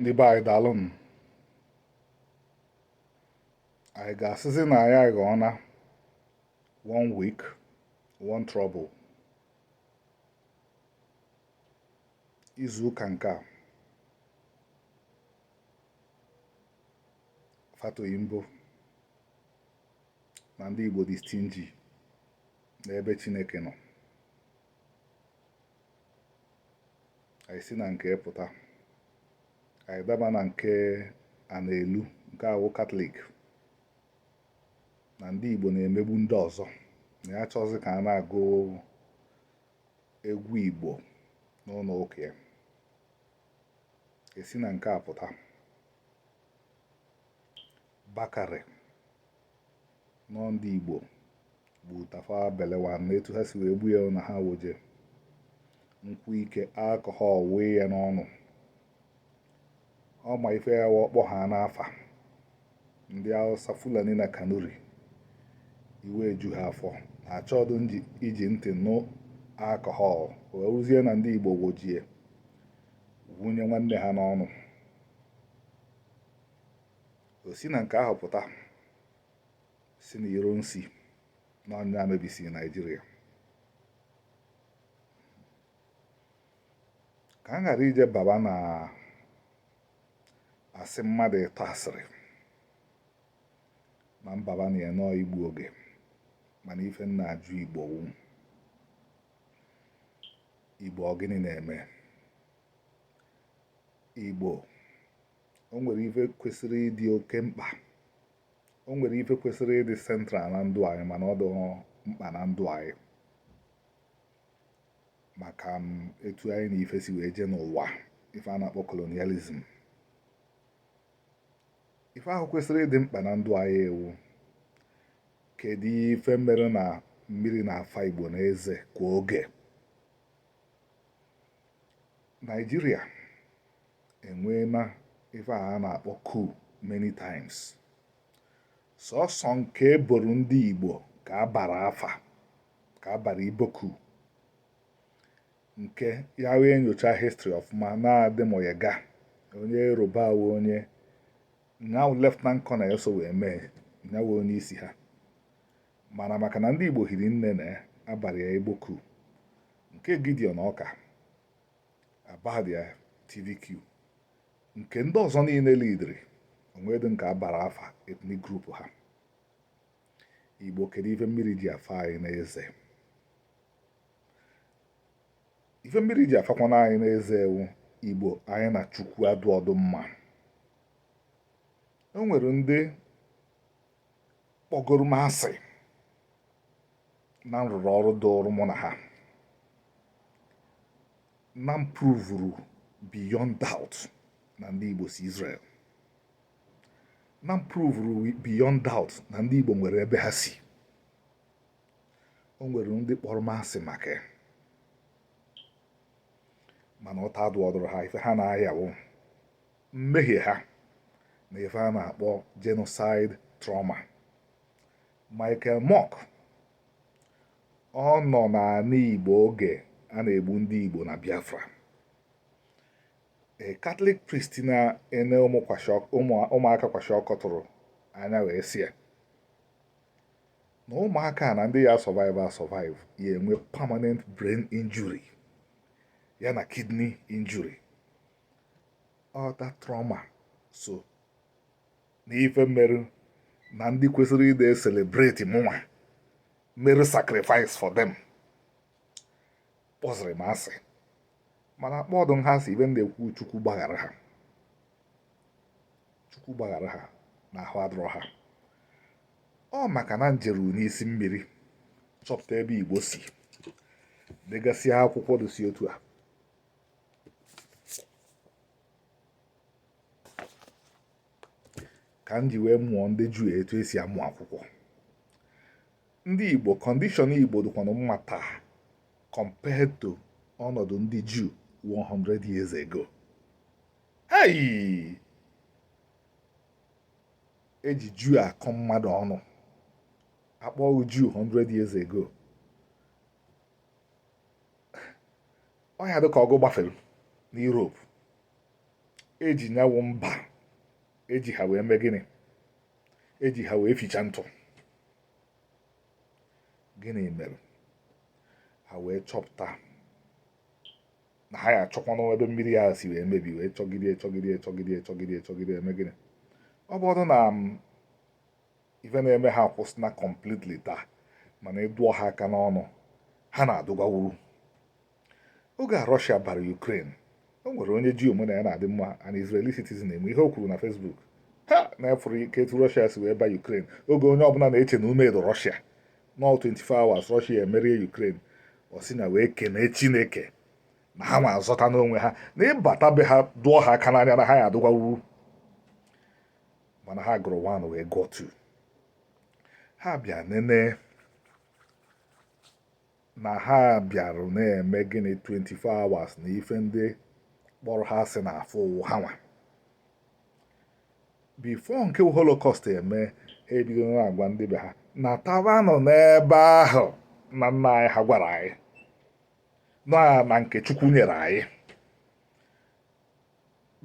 ndị be anyị daalụ m anyị ga-asịzi na anyị aghọọna one week one trouble izu ụka nke a Fatoyinbo na ndị Igbo dị stingy n'ebe Chineke nọ anyị si na nke pụta anyị daba na nke Anelu nke a wụ katọlik na ndị igbo na-emegbu ndị ọzọ na ya achọzi ka a na-agụ egwu igbo n'ụlọ ụka ya e si na nke a pụta Bakare na ọ ndị Igbo gbu Tafawa Balewa na etu ha si wee gbu ya na ha wojie nkwụ ike alcohol wunye ya n'ọnụ ọ ma ife ya wa ọ kpọ ha n'afa ndị Hausa Fulani na Kanuri iwe ju ha afọ na achọdụ iji ntị nụ alcohol wụrụzie na ndị Igbo wojie wunye nwanne ha n'ọnụ o si na nke ahụ pụta sị na Ironsi na ọ nya mebisi naijiria ka m ghara ije baba na asị mmadụ ịtọ asịrị na m baba na ya na ọ igbu oge mana ife m na-ajụ igbo wu igbo ọ gịnị na-eme igbo o nwere ife kwesịrị ịdị oke mkpa o nwere ife kwesịrị ịdị central na ndụ anyị mana ọ dị mkpa na ndụ anyị maka um, etu anyị na ife si wee jee n'ụwa ife a na-akpọ kolonializm ife ahụ kwesịrị ịdị mkpa na ndụ anyị wụ kedu ife mere na mmiri na-afa igbo n'eze kwa oge naijiria e nweena ife a na-akpọ coup many times sọsọ nke e boro ndị Igbo ka a bara afa ka a bara Igbo coup nke ya wụ e nyochaa histrị ọfụma na Ademoyega onye Yoruba wụ onye nya wụ lieutenant colonel so wee mee nya wụ onye isi ha mana maka na ndị Igbo hiri nne na ya a bara ya Igbo coup nke Gideon Orkar abalị ya TVQ nke ndị ọzọ niile lidiri o nwedị nke a bara afa ethnic group ha igbo kedu ife mmiri ji afa anyị n'eze ife mmiri ji afakwana anyị n'eze ewo igbo anyị na chukwu adụọdụ mma o nwere ndị kpọgoro m asị na m rụrụ ọrụ dụrụ mụ na ha na m pruvuru beyond doubt na ndị Igbo si Israel na m pruvuru beyond doubt na ndị Igbo nwere ebe ha si o nwere ndị kpọrọ m asị maka ya mana ụta adụọdụrụ ha ife ha na-aya wụ mmehie ha na ife a na-akpọ genocide trauma Michael Mok ọ nọ n'ani Igbo oge a na-egbu ndị Igbo na Biafra a Catholic priest na-ene ụmụaka kwashiọkọ tụrụ anya wee sie na ụmụaka na ndị ya survive survive ya-enwe permanent brain injury ya na kidney injury ọ the trauma so na ife merụ na ndị kwesịrị ide celebrate mụnwa mere sacrifice for them kpọzịrị m asị mana akpọọdụ m ha asị ife m na-ekwu chukwu gbaghara ha chukwu gbaghara ha na ahụ adụrọ ha ọ maka na njeru n'isi mmiri chọpụta ebe igbo si degasịa akwụkwọ dụsị etu a ka m ji wee mụọ ndị juu etu e si amụ akwụkwọ ndị igbo kọndishọn igbo dịkwanụ mma taa compared to ọnọdụ ndị juu 100 years ago hei e ji juu akọ mmadụ ọnụ a kpọọ gị juu 100 years ago ọ ya-adị ka ọgụ gbafere na Europe eji nyawụ mba eji ha wee mee gịnị eji ha wee ficha ntụ gịnị mere ha wee chọpụta na ha ya-achọkwanụ ebe mmiri a si wee mebi wee chọgide chọgide chọgide chọgide chọgide eme gịnị ọ bụrụ na ife na-eme ha kwụsịna completely taa mana ị dụọ ha aka n'ọnụ ha na-adụgwawuru oge a Russia bara Ukraine o nwere onye Jew mụ na ya na-adị mma an Israeli citizen nwee ihe o kwuru na Facebook ha na-efụrụ ike etu Russia si wee ba Ukraine oge onye ọbụla na-eche na ume edo Russia na 24 hours Russia emerie Ukraine ọ sị na wee kenee Chineke na ha nwa azọtana onwe ha na ị bata be ha dụọ ha aka n'anya na ha ya adụgwawuru mana ha gụrụ 1 wee gụọ 2 ha bịa nene na ha bịarụ na-eme gịnị 24 hours na ife ndị kpọrọ ha asị na afọ ụwa ha nwa before nke holocaust eme ha ebido na-agwa ndị be ha natabanụ n'ebe ahụ nna nna anyị ha gwara anyị na nke chukwu nyere anyị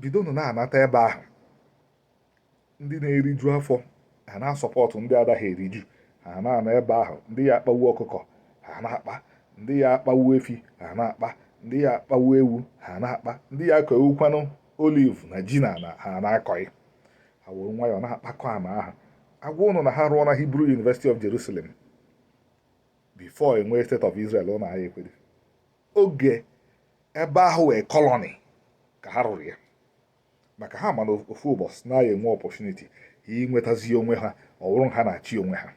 bidonụ na-anata ebe ahụ ndị na-eriju afọ ha na-asupport ndị adaghị eriju ha na-anọ ebe ahụ ndị ya akpawu ọkụkọ ha na-akpa ndị ya akpawu efi ha na-akpa ndị ya akpawu ewu ha na-akpa ndị ya akọwukwanụ oliv na ji na ha na-akọghị ha were nwayọọ na-akpakọ ana ahụ agwa ụnụ na ha rụọna Hebrew University of Jerusalem before enwee state of Israel ụnụ aya ekwere oge ebe ahụ wụ colony ka ha rụrụ ya maka ha ma na ofu ụbọsị na ha ya-enwe opportunity inwetazi onwe ha ọ wụrụ ha na-achị onwe ha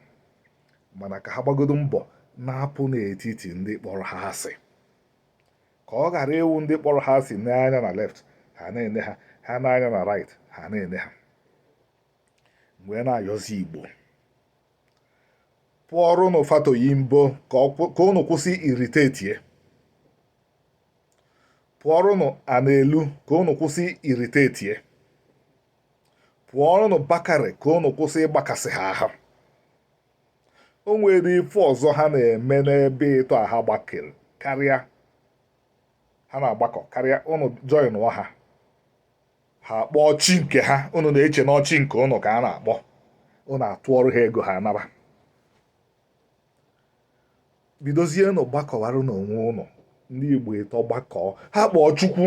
mana ka ha gbagodo mbọ na-apụ n'etiti ndị kpọrọ ha asị ka ọ ghara ịwụ ndị kpọrọ ha asị nee anya na left ha na-ene ha ha nee anya na right ha na-ene ha m wee na-ayọzi igbo pụọrọ ụnụ Fatoyinbo ka ụnụ kwụsị irritate ya pụọrọ ụnụ ana elu ka ụnụ kwụsị irritate ya pụọrọ ụnụ Bakare ka ụnụ kwụsị ịgbakasị ha ahụ o nwere ife ọzọ ha na-eme n'ebe ịtọ a ha gbakọrọ karịa ha na-agbakọ karịa ụnụ joinụọ ha ha kpọọ chi nke ha unu na-eche na ọ chi nke unu ka a na-akpọ unu atụọrụ ha ego ha anara bidozienụ gbakọwara n'onwe ụnụ ndị igbo ịtọ gbakọọ ha kpọọ chukwu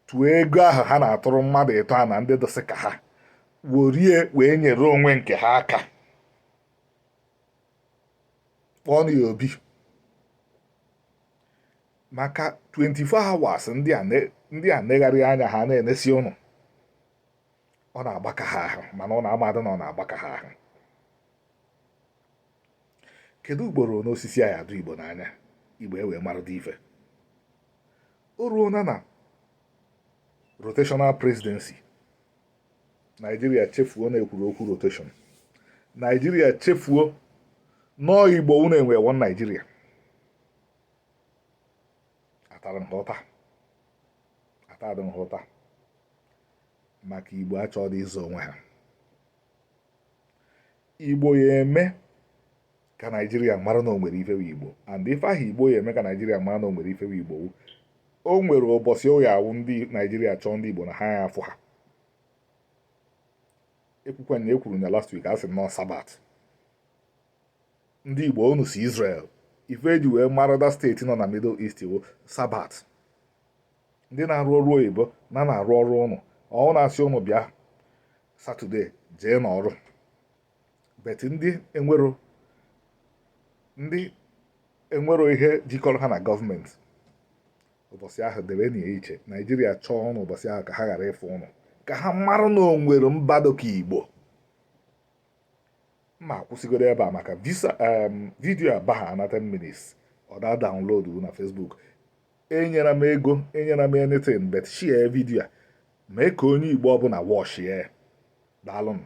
tụọ ego ahụ ha na-atụrụ mmadụ ịtọ a na ndị dịsị ka ha were ya wee nyere onwe nke ha aka kpọọ ya obi maka 24 hours ndị a ne- ndị a negharị anya ha na-enesi ụnụ ọ na-agbaka ha ahụ mana ụnụ amadụ na ọ na-agbaka ha ahụ kedu ugboro ole osisi a ya adụ igbo n'anya igbo e wee marụdị ife o ruona na rotational presidency naijiria chefuo na e kwuru okwu rotation naijiria chefuo nnọọ igbo unu enwe one naijiria atara m ha ụta atara m ha ụta maka igbo achọdụ ịzọ onwe ha igbo ya eme ka naijiria mara na o nwere ife wụ igbo and ife ahụ igbo ya eme ka naijiria mara na o nwere ife wụ igbo o nwere ụbọchị ọ ya awụ naijiria chọọ ndị igbo na ha ya afụ ha ekwukwe na ekwuru ya last week a sị na ọ sabat ndị Igbo unu si Israel ife e ji wee mara that state nọ na Middle East wụ sabat ndị na-arụ ọrụ oyibo na na-arụ ọrụ ụnụ ọ na-asị ụnụ bịa satọde jee n'ọrụ but ndị enwero ndị enwero ihe jikọrọ ha na gọọmenti ụbọchị ahụ debenụ iche naijiria chọọ ụnụ ụbọchị ahụ ka ha ghara ịfụ ụnụ ka ha mara na o nwere mba dịka igbo m ya akwụsịgodu ebe a maka vidiyo a baha na 10 minutes ọ da download na Facebook enyela m ego enyela m anything but share vidiyo a mee ka onye Igbo ọbụla wọchie daalụnụ